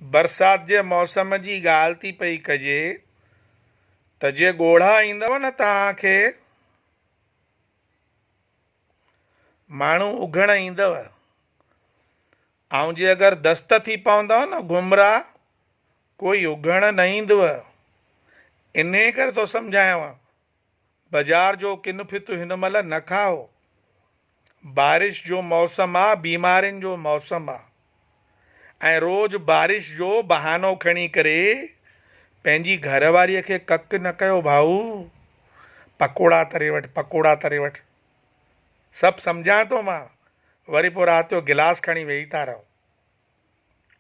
برسات جي موسم جي ڳالهه ٿي پئي ڪجي ته جي ڳوڙها ايندو نه توهان کي ماڻهو اگهڻ ايندو ۽ جي اگر دست ٿي پوندو نه گمراهه ڪوئي اگهڻ نه ايندو انهي ڪري ٿو سمجهايان بجار جو ڪن ڦت هن مهل نه کائو. بارش جو موسم آ بيمارين جو موسم آ ۽ روز بارش جو بهانو کڻي ڪري پنهنجي گهر واريء کي ڪڪ نه ڪيو ڀائو. پڪوڙا تري وٺ پڪوڙا تري وٺ. سڀ سمجهان ٿو مان وري پوء رات جو گلاس کڻي ويهي ٿا رهو.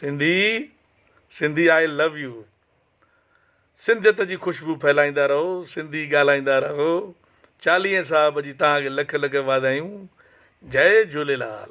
Sindhi Sindhi I love you سنڌيت جي خوشبو ڦهلائيندا رهو سنڌي ڳالهائيندا رهو چاليهين صاحب جي توهان کي لک لک واڌايون جئي جهوليلال.